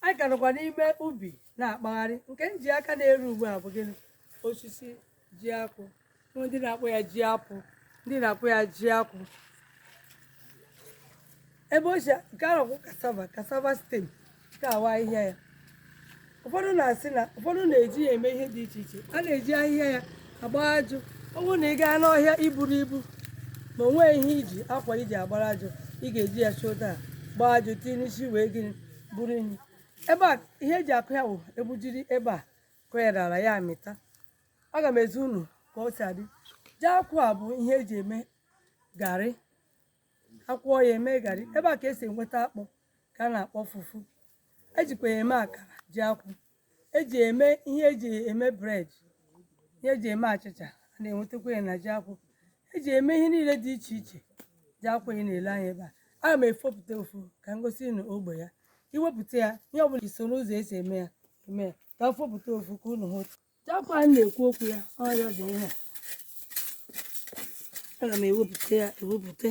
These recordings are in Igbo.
anyị ka nọkwa n'ime ubi na-akpagharị nke m ji aka na-eru ugbu a bụ gịnị osisi ji akwụ ndị na-akpọ ya ji apụ ndị na-akpọ ya ji akwụ ebe o si nke ahụ bụ cassava cassava stem nke a wụ ahịhịa ya ụfọdụ na-asị na ụfọdụ na-eji ya eme ihe dị iche iche a na-eji ahịhịa ya agba ajụ ọ bụrụ na ị gaa n'ọhịa iburu ibu ma o nweghị ihe iji akwa iji agbara ajụ ị ga-eji ya chịta gbaa ajụ tinye n'isi wee gịnị buru ihe ebe a ihe eji akụ ya wụ egbujiri ebe a kụ ya n'ala ya amịta aga m ezi unu ka o si adị ji akwụ a bụ ihe eji eme garị akwụọ ya eme garị ebe a ka esi enweta akpụ ka a na-akpọ fufu ejikwa ya eme akara ji akwụ eji ya eme ihe eji ya eme bread ihe eji eme achịcha a na-enwetakwa ya na ji akwụ eji ya eme ihe niile dị iche iche ji akwụ ị na-ele anya ebe a aga m efopụta ofu ka m gosi unu ogbe ya i wepụta ya ihe ọbụla i soro ụzọ esi eme ya eme ya ka m fopụta ofu ka unu hụ otu Ji akwụ a na-ekwu okwu ya ọ ya dị ihe a aga m ewepụta ya ewepụta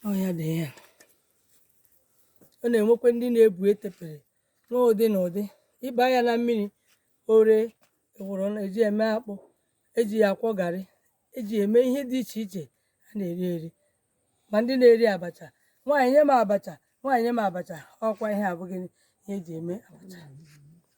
ọ ya dị ihe a ọ na-enwekwa ndị na-ebu etepere nwee ụdị na ụdị ị baa ya na mmiri o ree eworo na eji eme akpụ eji ya akwọ garị eji eme ihe dị iche iche a na-eri eri ma ndị na-eri abacha nwaanyị nye m abacha nwaanyị nye m abacha ọkwa ihe a bụ gịnị ihe eji eme abacha